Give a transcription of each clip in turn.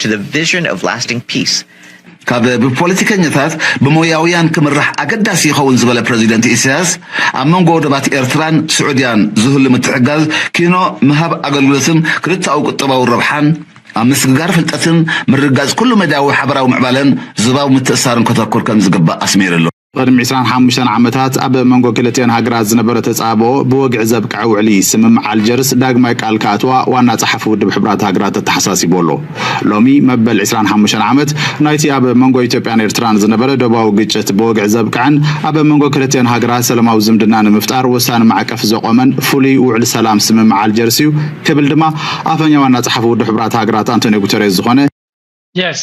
to the vision of lasting peace ካብ ብፖለቲከኛታት ብሞያውያን ክምራሕ ኣገዳሲ ይኸውን ዝበለ ፕረዚደንት ኢሳያስ፣ ኣብ መንጎ ወደባት ኤርትራን ስዑድያን ዝህሉ ምትሕግጋዝ ኪኖ ምሃብ ኣገልግሎትን ክልተኣዊ ቁጠባዊ ረብሓን፣ ኣብ ምስግጋር ፍልጠትን ምርግጋጽ ኩሉ-መዳያዊ ሓበራዊ ምዕባለን ዞባዊ ምትእስሳርን ከተኩር ከምዝግባእ ኣስሚርሉ። ቕድሚ ዕስራን ሓሙሽተን ዓመታት ኣብ መንጎ ክልቲኣን ሃገራት ዝነበረ ተጻብኦ ብወግዒ ዘብቅዐ ውዕሊ ስምምዕ ኣልጀርስ ዳግማይ ቃል ክኣትዋ ዋና ጸሓፊ ውድብ ሕቡራት ሃገራት ኣተሓሳሲቡ ኣሎ። ሎሚ መበል ዕስራን ሓሙሽተን ዓመት ናይቲ ኣብ መንጎ ኢትዮጵያን ኤርትራን ዝነበረ ዶባዊ ግጭት ብወግዒ ዘብቅዐን ኣብ መንጎ ክልቲኣን ሃገራት ሰለማዊ ዝምድና ንምፍጣር ወሳኒ ማዕቀፍ ዘቖመን ፍሉይ ውዕሊ ሰላም ስምምዕ ኣልጀርስ'ዩ ክብል ድማ ኣፈኛ ዋና ጸሓፊ ውድብ ሕቡራት ሃገራት ኣንቶንዮ ጉተሬዝ ዝኾነ Yes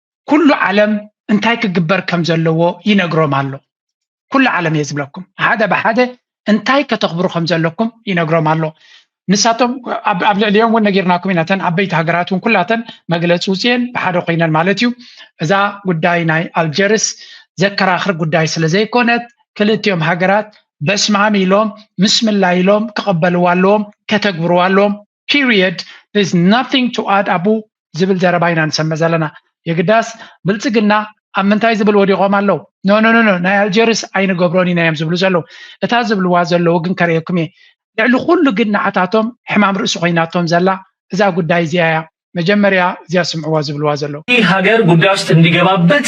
ኩሉ ዓለም እንታይ ክግበር ከም ዘለዎ ይነግሮም ኣሎ ኩሉ ዓለም እየ ዝብለኩም ሓደ ብሓደ እንታይ ከተኽብሩ ከም ዘለኩም ይነግሮም ኣሎ ንሳቶም ኣብ ልዕሊኦም እውን ነጊርናኩም ኢና እተን ዓበይቲ ሃገራት እውን ኩላተን መግለፂ ውፅኤን ብሓደ ኮይነን ማለት እዩ እዛ ጉዳይ ናይ ኣልጀርስ ዘከራኽር ጉዳይ ስለ ዘይኮነት ክልቲኦም ሃገራት በስማም ኢሎም ምስ ምላ ኢሎም ክቐበልዋ ኣለዎም ከተግብርዋ ኣለዎም ፒሪየድ ዜርስ ናቲንግ ቱ ኣድ ኣቡ ዝብል ዘረባ ኢና ንሰምዕ ዘለና የግዳስ ብልፅግና ኣብ ምንታይ ዝብል ወዲቖም ኣለዉ ኖኖኖኖ ናይ ኣልጀርስ ኣይንገብሮን ኢና እዮም ዝብሉ ዘለዉ እታ ዝብልዋ ዘለዉ ግን ከርእየኩም እየ ልዕሊ ኩሉ ግን ንዓታቶም ሕማም ርእሲ ኮይናቶም ዘላ እዛ ጉዳይ እዚኣ እያ መጀመርያ እዚኣ ስምዕዋ ዝብልዋ ዘለዉ ይህ ሀገር ጉዳይ ውስጥ እንዲገባበት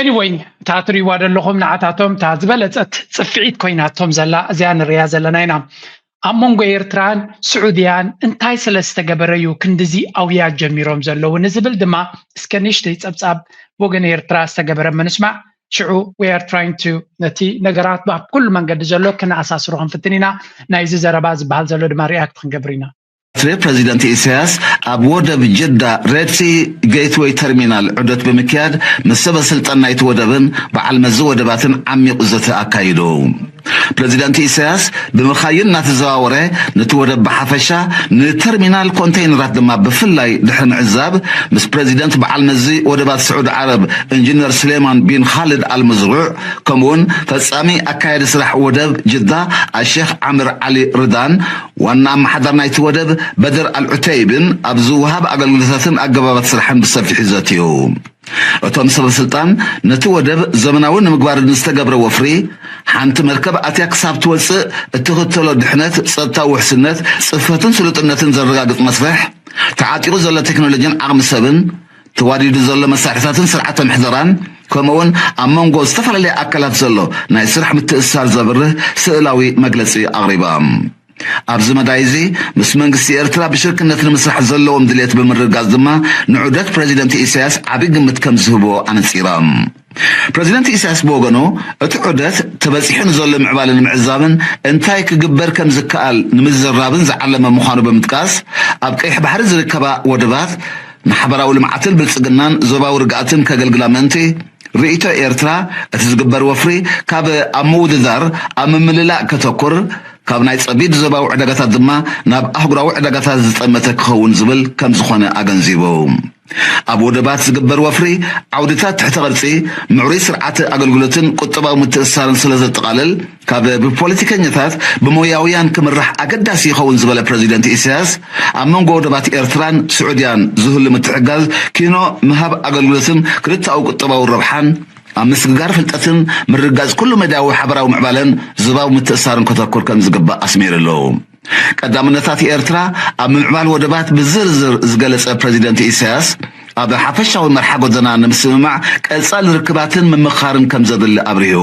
Anyway እታ ትሪእዋ ዘለኹም ንዓታቶም እታ ዝበለጸት ጽፍዒት ኮይናቶም ዘላ እዚኣ ንርእያ ዘለና ኢና። ኣብ መንጎ ኤርትራን ስዑድያን እንታይ ስለ ዝተገበረ እዩ ክንድዚ ኣውያት ጀሚሮም ዘለዉ ንዝብል ድማ እስከ ንእሽተይ ጸብጻብ ብወገን ኤርትራ ዝተገበረ እሞ ንስማዕ ሽዑ we are trying to ነቲ ነገራት ኣብ ኩሉ መንገዲ ዘሎ ክነኣሳስሮ ክንፍትን ኢና ናይዚ ዘረባ ዝበሃል ዘሎ ድማ ሪኣክት ክንገብር ኢና። ኤርትሬ ፕረዚደንት ኢሳያስ ኣብ ወደብ ጅዳ ሬድሲ ገይትወይ ተርሚናል ዑደት ብምክያድ ምስ ሰበስልጣን ናይቲ ወደብን በዓል መዚ ወደባትን ዓሚቝ ዘተ ኣካይዱ። ፕረዚደንት ኢሳያስ ብምኻይን እናተዘዋወረ ነቲ ወደብ ብሓፈሻ ንተርሚናል ኮንተይነራት ድማ ብፍላይ ድሕሪ ምዕዛብ ምስ ፕረዚደንት በዓል መዚ ወደባት ስዑድ ዓረብ እንጅነር ስሌማን ቢን ኻልድ ኣል መዝሩዕ ከምኡ'ውን ፈጻሚ ኣካያዲ ስራሕ ወደብ ጅዳ ኣሼኽ ዓምር ዓሊ ርዳን ዋና ኣመሓዳር ናይቲ ወደብ በድር ኣልዑተይብን ኣብ ዝወሃብ ኣገልግሎታትን ኣገባባት ስራሕን ብሰፊሑ ዘትዩ። እቶም ሰበስልጣን ነቲ ወደብ ዘመናዊ ንምግባር ንዝተገብረ ወፍሪ፣ ሓንቲ መርከብ ኣትያ ክሳብ ትወጽእ እትኽተሎ ድሕነት፣ ጸጥታዊ ውሕስነት፣ ጽፈትን ስሉጥነትን ዘረጋግጽ መስርሕ፣ ተዓጢቑ ዘሎ ቴክኖሎጂን ዓቕሚ ሰብን፣ ተዋዲዱ ዘሎ መሳርሕታትን ስርዓተ ምሕደራን ከምኡውን ኣብ መንጎ ዝተፈላለየ ኣካላት ዘሎ ናይ ስራሕ ምትእስሳር ዘብርህ ስእላዊ መግለጺ ኣቕሪቦም። ኣብዚ መዳይ እዚ ምስ መንግስቲ ኤርትራ ብሽርክነት ንምስራሕ ዘለዎም ድሌት ብምርግጋጽ ድማ ንዑደት ፕረዚደንት ኢሳያስ ዓቢ ግምት ከምዝህብዎ ኣነጺሮም። ፕረዚደንት ኢሳያስ ብወገኑ፣ እቲ ዑደት ተበጺሑ ንዘሎ ምዕባለ ንምዕዛብን እንታይ ክግበር ከም ዝከኣል ንምዝርራብን ዝዓለመ ምዃኑ ብምጥቃስ፣ ኣብ ቀይሕ ባሕሪ ዝርከባ ወደባት ንሓበራዊ ልምዓትን ብልጽግናን ዞባዊ ርግኣትን ከገልግላ ምእንቲ፣ ርእይቶ ኤርትራ እቲ ዝግበር ወፍሪ ካብ ኣብ ምውድዳር ኣብ ምምልላእ ከተኩር፣ ካብ ናይ ጸቢብ ዞባዊ ዕዳጋታት ድማ ናብ ኣህጉራዊ ዕዳጋታት ዝጠመተ ክኸውን ዝብል ከም ዝኾነ ኣገንዚቡ። ኣብ ወደባት ዝግበር ወፍሪ ዓውድታት ትሕተ ቅርጺ፣ ምዕሩይ ስርዓተ ኣገልግሎትን ቁጠባዊ ምትእስሳርን ስለ ዘጠቓልል፣ ካብ ብፖለቲከኛታት ብሞያውያን ክምራሕ ኣገዳሲ ይኸውን ዝበለ ፕረዚደንት ኢሳያስ፣ ኣብ መንጎ ወደባት ኤርትራን ስዑድያን ዝህሉ ምትሕግጋዝ ኪኖ ምሃብ ኣገልግሎትን ክልተኣዊ ቁጠባዊ ረብሓን፣ ኣብ ምስግጋር ፍልጠትን ምርግጋጽ ኩሉ-መዳያዊ ሓበራዊ ምዕባለን ዞባዊ ምትእስሳርን ከተኩር ከም ዝግባእ ኣስሚርሉ። ቀዳምነታት ኤርትራ ኣብ ምምዕባል ወደባት ብዝርዝር ዝገለጸ ፕረዚደንት ኢሳያስ፣ ኣብ ሓፈሻዊ መርሓ ጎደና ንምስምማዕ ቀጻሊ ርክባትን ምምኽኻርን ከም ዘድሊ ኣብሪሁ።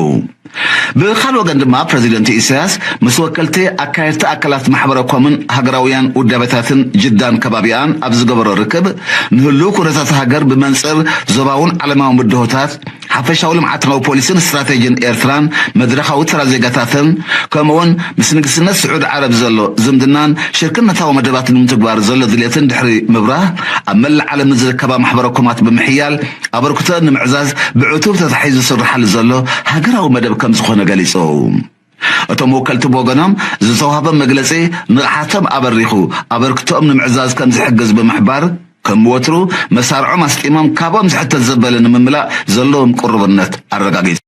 ብኻል ወገን ድማ ፕረዚደንት ኢሳያስ ምስ ወከልቲ ኣካየድቲ ኣካላት ማሕበረ ኮምን ሃገራውያን ውዳበታትን ጅዳን ከባቢኣን ኣብ ዝገበሮ ርክብ፣ ንህሉው ኩነታት ሃገር ብመንጽር ዞባውን ዓለማውን ብድሆታት፣ ሓፈሻዊ ልምዓታዊ ፖሊሲን ስትራቴጂን ኤርትራን መድረኻዊ ተራ ዜጋታትን ከምኡ'ውን ምስ ንግስነት ስዑዲ ዓረብ ዘሎ ዝምድናን ሽርክነታዊ መደባት ንምትግባር ዘሎ ድሌትን ድሕሪ ምብራህ ኣብ መላእ ዓለም ንዝርከባ ማሕበረኮማት ብምሕያል ኣበርክቶኣን ንምዕዛዝ ብዕቱብ ተታሒዙ ዝስርሓሉ ዘሎ ሃገራዊ መደብ ከምዝኾነ ገሊጹ። እቶም ወከልቲ ብወገኖም፣ ዝተዋህቦም መግለጺ ንቕሓቶም ኣበሪኹ ኣበርክቶኦም ንምዕዛዝ ከምዝሕግዝ ብምሕባር፣ ከም ወትሩ መሳርዖም ኣስጢሞም ካብኦም ዝሕተት ዘበለ ንምምላእ ዘለዎም ቅሩብነት ኣረጋጊጾም።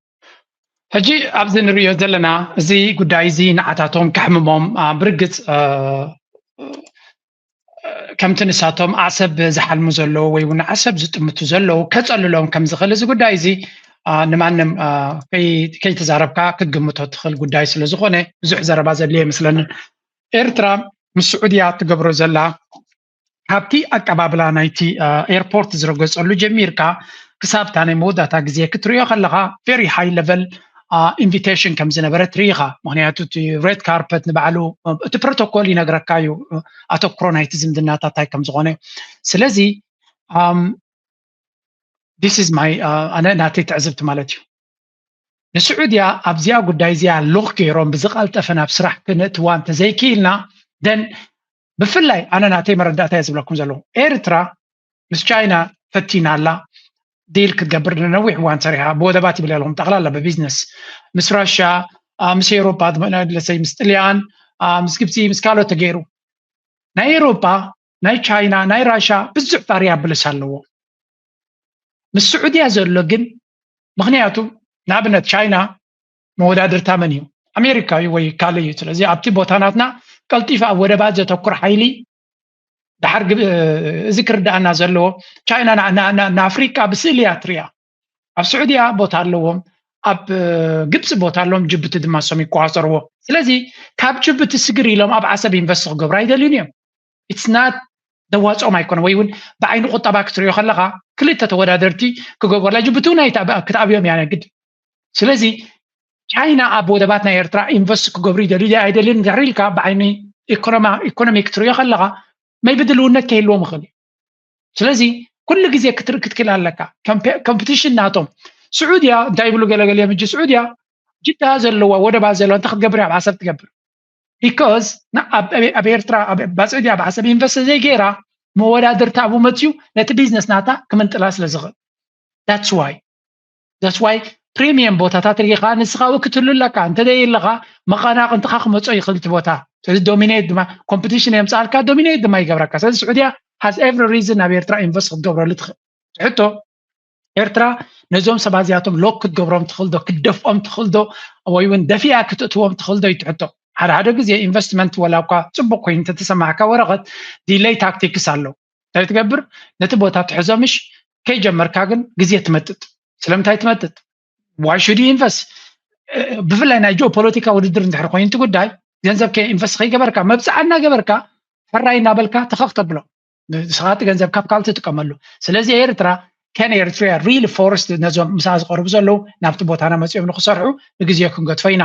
ሕጂ ኣብዚ ንርእዮ ዘለና እዚ ጉዳይ እዚ ንዓታቶም ከሕምሞም ብርግጽ ከምቲ ንሳቶም ዓሰብ ዝሓልሙ ዘለዉ ወይ እውን ዓሰብ ዝጥምቱ ዘለዉ ከፀልሎም ከም ዝኽእል እዚ ጉዳይ እዚ ንማንም ከይተዛረብካ ክትግምቶ ትኽእል ጉዳይ ስለ ዝኾነ ብዙሕ ዘረባ ዘድልዮ ኣይመስለንን ኤርትራ ምስ ስዑድያ ትገብሮ ዘላ ካብቲ ኣቀባብላ ናይቲ ኤርፖርት ዝረገፀሉ ጀሚርካ ክሳብ እታ ናይ መወዳእታ ግዜ ክትሪኦ ከለኻ ቨሪ ሃይ ለቨል ኢንቪቴሽን ከም ዝነበረት ርኢኻ ምክንያቱ እቲ ሬድ ካርፐት ንባዕሉ እቲ ፕሮቶኮል ይነግረካ እዩ ኣተኩሮ ናይቲ ዝምድናታት እንታይ ከም ዝኾነ ስለዚ ዲስ ኢዝ ማይ ኣነ ናተይ ትዕዝብቲ ማለት እዩ ንስዑድያ ኣብዚኣ ጉዳይ እዚኣ ሎክ ገይሮም ብዝቐልጠፈ ናብ ስራሕ ክነእትዋ እንተዘይክኢልና ደን ብፍላይ ኣነ ናተይ መረዳእታ እየ ዝብለኩም ዘለኹ ኤርትራ ምስ ቻይና ፈቲና ኣላ ዲል ክትገብር ንነዊሕ እዋን ሰሪሓ ብወደባት ይብል ኣለኹም ጠቕላላ ብቢዝነስ ምስ ራሻ ምስ ኤሮፓ ለሰይ ምስ ጥልያን ምስ ግብፂ ምስ ካልኦት ተገይሩ ናይ ኤሮፓ ናይ ቻይና ናይ ራሻ ብዙሕ ጣርያ ብልስ ኣለዎ ምስ ስዑድያ ዘሎ ግን ምክንያቱ ንኣብነት ቻይና መወዳድርታ መን እዩ ኣሜሪካ እዩ ወይ ካልእ እዩ ስለዚ ኣብቲ ቦታ ናትና ቀልጢፍ ኣብ ወደባት ዘተኩር ሓይሊ ድሓር እዚ ክርዳኣና ዘለዎ ቻይና ንኣፍሪካ ብስእሊ እያ ትሪያ ኣብ ስዑድያ ቦታ ኣለዎም ኣብ ግብፂ ቦታ ኣለዎም ጅቡቲ ድማ ሶም ይቆፃፀርዎ ስለዚ ካብ ጅቡቲ ስግር ኢሎም ኣብ ዓሰብ ኢንቨስት ክገብሩ ኣይደልዩን እዮም ኢትስ ናት ዘዋፅኦም ኣይኮነ ወይ እውን ብዓይኒ ቁጠባ ክትሪኦ ከለካ ክልተ ተወዳደርቲ ክገብርላ ጅቡቲ እውን ክትኣብዮም እያ ግድ ስለዚ ቻይና ኣብ ወደባት ናይ ኤርትራ ኢንቨስት ክገብሩ ይደልዩ ድ ኣይደልን ድሕሪ ኢልካ ብዓይኒ ኢኮኖሚ ክትሪኦ ከለካ መይ ብድልውነት ከይህልዎም ይኽእል እዩ ስለዚ ኩሉ ግዜ ክትርኢ ክትክእል ኣለካ ኮምፒቲሽን ናቶም ስዑድያ እንታይ ይብሉ ገለገለ እዮም እጂ ስዑድያ ጅዳ ዘለዋ ወደባ ዘለዋ እንታይ ክትገብር እያ ዓሰብ ትገብር ቢኮዝ ኣብ ኤርትራ ኣብ ባፅዕዲ ኣብ ዓሰብ ኢንቨስት ዘይገይራ መወዳድርቲ ኣብኡ መፅዩ ነቲ ቢዝነስ ናታ ክምንጥላ ስለ ዝኽእል ዳትስ ዋይ ዳትስ ዋይ ፕሪሚየም ቦታታት ርኢኻ ንስኻ እውን ክትህሉ ኣለካ እንተዘይለኻ መቐናቕንትኻ ክመፆ ይኽእል እቲ ቦታ ስለዚ ዶሚኔት ድማ ኮምፒቲሽን የምፅኣልካ ዶሚኔት ድማ ይገብረካ ስለዚ ስዑድያ ሃዝ ኤቭሪ ሪዝን ናብ ኤርትራ ኢንቨስት ክትገብረሉ ትኽእል ሕቶ ኤርትራ ነዞም ሰባት እዚኣቶም ሎክ ክትገብሮም ትኽእል ዶ ክትደፍኦም ትኽእል ዶ ወይ እውን ደፊኣ ክትእትዎም ትኽእል ዶ እዩ እቲ ሕቶ ሓደ ሓደ ግዜ ኢንቨስትመንት ወላ እኳ ፅቡቅ ኮይኑ እንተተሰማዕካ ወረቐት ዲለይ ታክቲክስ ኣሎ እንታይ ትገብር ነቲ ቦታ ትሕዞ ምሽ ከይጀመርካ ግን ግዜ ትመጥጥ ስለምንታይ ትመጥጥ ዋይ ሹድ ኢንቨስት ብፍላይ ናይ ጂኦ ፖለቲካ ውድድር እንድሕር ኮይኑ እቲ ጉዳይ ገንዘብ ኢንቨስት ከይገበርካ መብፅዓ እናገበርካ ሕራይ እናበልካ ተኸኽ ተብሎ ንስኻ እቲ ገንዘብ ካብ ካልእ ትጥቀመሉ ስለዚ ኤርትራ ከን ኤርትሪያ ሪሊ ፎረስት ነዞም ምስኣ ዝቐርቡ ዘለዉ ናብቲ ቦታና መፅኦም ንክሰርሑ ንግዜ ክንገድፎ ኢና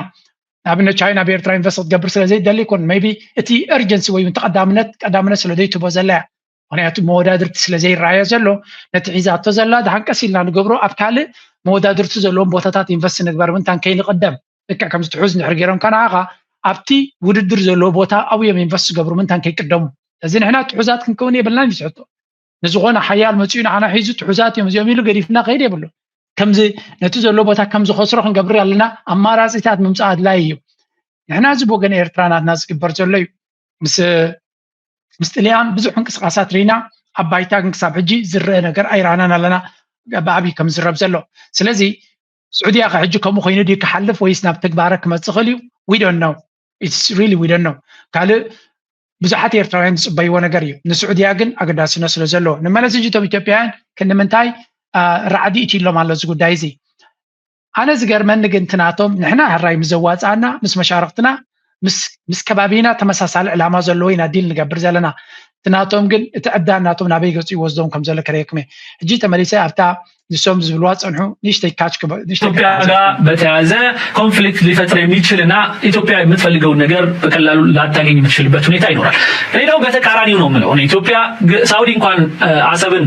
ንኣብነት ቻይና ኣብ ኤርትራ ኢንቨስት ክትገብር ስለ ዘይደሊ ይኮን መይቢ እቲ ኤርጀንሲ ወይ እውን ተቀዳምነት ቀዳምነት ስለ ዘይትቦ ዘላ እያ ምክንያቱ መወዳድርቲ ስለ ዘይረኣዮ ዘሎ ነቲ ሒዛቶ ዘላ ድሃንቀስ ኢልና ንገብሮ ኣብ ካልእ መወዳድርቲ ዘለዎም ቦታታት ኢንቨስት ንግበር ምንታን ከይንቅደም ልክዕ ከምዚ ትሑዝ እንድሕር ገይሮም ከ ንዓኻ ኣብቲ ውድድር ዘለዎ ቦታ ኣብኡ እዮም ኢንቨስት ዝገብሩ ምንታን ከይቅደሙ እዚ ንሕና ትሑዛት ክንከውን የብልናን እዩ ዝሕቶ ንዝኾነ ሓያል መፅኡ ንዓና ሒዙ ትሑዛት እዮም እዚኦም ኢሉ ገዲፍና ከይድ የብሉ ከምዚ ነቲ ዘሎ ቦታ ከም ዝኸስሮ ክንገብር ኣለና ኣማራፂታት ምምፃእ ኣድላይ እዩ ንሕና እዚ ብወገን ኤርትራ ናትና ዝግበር ዘሎ እዩ ምስ ምስ ጥልያን ብዙሕ እንቅስቃሳት ርኢና ኣብ ባይታ ግን ክሳብ ሕጂ ዝረአ ነገር ኣይረኣናን ኣለና ብዓብዪ ከም ዝረብ ዘሎ ስለዚ ስዑድያ ከ ሕጂ ከምኡ ኮይኑ ድዩ ክሓልፍ ወይስ ናብ ትግባረ ክመፅእ ክእል እዩ ዊ ዶንት ኖው ኢትስ ሪሊ ዊ ዶንት ኖው ካልእ ብዙሓት ኤርትራውያን ዝፅበይዎ ነገር እዩ ንስዑድያ ግን ኣገዳስነት ስለ ዘለዎ ንመለስ ሕጂ እቶም ኢትዮጵያውያን ክንምንታይ ራዕዲ እትይሎም ኣሎ እዚ ጉዳይ እዚ ኣነ ዝገርመኒ ግን ትናቶም ንሕና ሕራይ ምስ ዘዋፅኣና ምስ መሻርክትና ምስ ከባቢና ተመሳሳሊ ዕላማ ዘለዎ ኢና ዲል ንገብር ዘለና እቲ ናቶም ግን እቲ ዕብዳን ናቶም ናበይ ገፁ ይወስዶም ከም ዘሎ ከርእየኩም እየ ሕጂ ተመሊሰ ኣብታ ንሶም ዝብልዋ ፀንሑ ንእሽተይ ካች ኢትዮጵያ ጋር በተያያዘ ኮንፍሊክት ሊፈጥር የሚችል እና ኢትዮጵያ የምትፈልገውን ነገር በቀላሉ ላታገኝ የምትችልበት ሁኔታ ይኖራል። ሌላው በተቃራኒው ነው የምለው ኢትዮጵያ ሳውዲ እንኳን አሰብን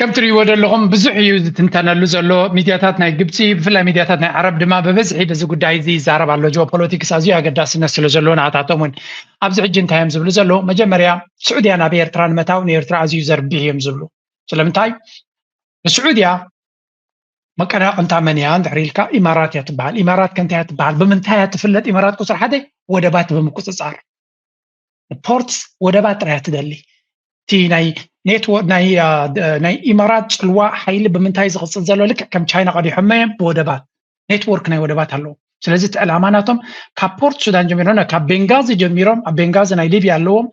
ከም ትርእይዎ ዘለኹም ብዙሕ እዩ ዝትንተነሉ ዘሎ ሚድያታት ናይ ግብፂ ብፍላይ ሚድያታት ናይ ዓረብ ድማ ብበዝሒ በዚ ጉዳይ እዚ ይዛረብ ኣሎ ጂኦፖለቲክስ ኣዝዩ ኣገዳስነት ስለ ዘለዎ ንኣታቶም እውን ኣብዚ ሕጂ እንታይ እዮም ዝብሉ ዘለዉ መጀመርያ ስዑድያ ናብ ኤርትራ ንምታው ንኤርትራ ኣዝዩ ዘርብሕ እዮም ዝብሉ ስለምንታይ ንስዑድያ መቀናቅንታ መን እያ እንድሕር ኢልካ ኢማራት እያ ትበሃል ኢማራት ከንታይ እያ ትበሃል ብምንታይ እያ ትፍለጥ ኢማራት ቁፅሪ ሓደ ወደባት ብምቁፅፃር ፖርትስ ወደባት ጥራያ ትደሊ እቲ ናይ ኔትወርክ ናይ ኢማራት ፅልዋ ሓይሊ ብምንታይ ዝቕፅል ዘሎ ልክዕ ከም ቻይና ቀዲሖመ እዮም ብወደባት ኔትወርክ ናይ ወደባት ኣለዎ ስለዚ እቲ ዕላማ ናቶም ካብ ፖርት ሱዳን ጀሚሮም ካብ ቤንጋዚ ጀሚሮም ኣብ ቤንጋዚ ናይ ሊብያ ኣለዎም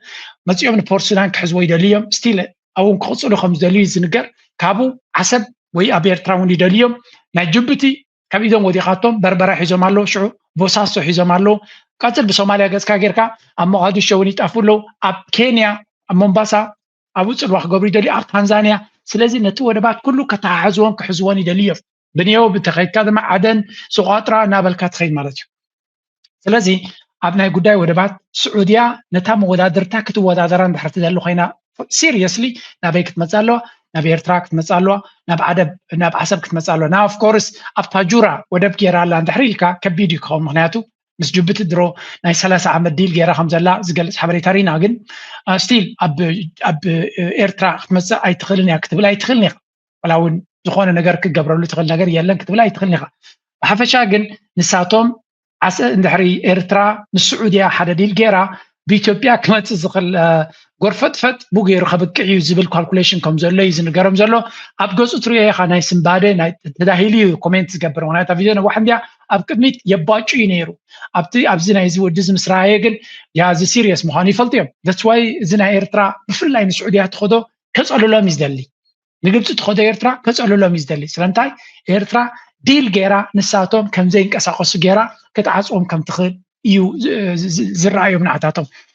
መፂኦም ንፖርት ሱዳን ክሕዝዎ ይደልዩ እዮም ስቲል ኣብኡን ክቕፅሉ ከም ዝደልዩ ዝንገር ካብኡ ዓሰብ ወይ ኣብ ኤርትራ እውን ይደልዩ እዮም ናይ ጅቡቲ ካብ ኢዶም ወዲቓቶም በርበራ ሒዞም ኣለዉ ሽዑ ቦሳሶ ሒዞም ኣለዉ ቀፅል ብሶማልያ ገፅካ ጌርካ ኣብ ሞቃዲሾ እውን ይጠፉ ኣለዉ ኣብ ኬንያ ኣብ ሞምባሳ ኣብኡ ፅልዋ ክገብሩ ይደልዩ ኣብ ታንዛንያ ስለዚ ነቲ ወደባት ኩሉ ከተሓሕዝዎን ክሕዝዎን ይደልዩ እዮም ብንየው ብተኸይድካ ድማ ዓደን ስቋጥራ እናበልካ ትኸይድ ማለት እዩ ስለዚ ኣብ ናይ ጉዳይ ወደባት ስዑድያ ነታ መወዳድርታ ክትወዳደራ እንድሕር ትደሊ ኮይና ሲሪየስሊ ናበይ ክትመፅእ ኣለዋ ናብ ኤርትራ ክትመፅእ ኣለዋ ናብ ዓደብ ናብ ዓሰብ ክትመፅእ ኣለዋ ናብ ኦፍኮርስ ኣብ ታጁራ ወደብ ገይራ ኣላ እንድሕር ኢልካ ከቢድ እዩ ክኸውን ምክንያቱ ምስ ጅቡቲ ድሮ ናይ ሰላሳ ዓመት ዲል ገይራ ከም ዘላ ዝገልፅ ሓበሬታ ሪና ግን ስቲል ኣብ ኤርትራ ክትመፅእ ኣይትኽእልን እያ ክትብል ኣይትኽእልን ኢኻ ዋላ እውን ዝኾነ ነገር ክትገብረሉ ትኽእል ነገር የለን ክትብል ኣይትኽእልን ኢኻ ብሓፈሻ ግን ንሳቶም ዓሰ እንድሕሪ ኤርትራ ምስ ስዑድያ ሓደ ዲል ገይራ ብኢትዮጵያ ክመፅእ ዝኽእል ጎርፈጥፈጥ ብገይሩ ከብቅዕ እዩ ዝብል ካልኩሌሽን ከም ዘሎ እዩ ዝንገሮም ዘሎ ኣብ ገፁ ትሪኦ ኢኻ ናይ ስምባደ ናይ ተዳሂሉ እዩ ኮሜንት ዝገብር ምክንያቱ ቪድዮ ነዋሕ እንዲያ ኣብ ቅድሚት የባጩ እዩ ነይሩ ኣብቲ ኣብዚ ናይዚ ወዲ እዚ ምስ ረኣየ ግን ያዚ ሲሪየስ ምዃኑ ይፈልጡ እዮም ደስዋይ እዚ ናይ ኤርትራ ብፍላይ ንስዑድያ ትኸዶ ከፀልሎም እዩ ዝደሊ ንግብፂ ትኸዶ ኤርትራ ከፀልሎም እዩ ዝደሊ ስለምንታይ ኤርትራ ዲል ገይራ ንሳቶም ከምዘይንቀሳቀሱ ገይራ ክትዓፅዎም ከምትኽእል እዩ ዝረኣዮም ንዓታቶም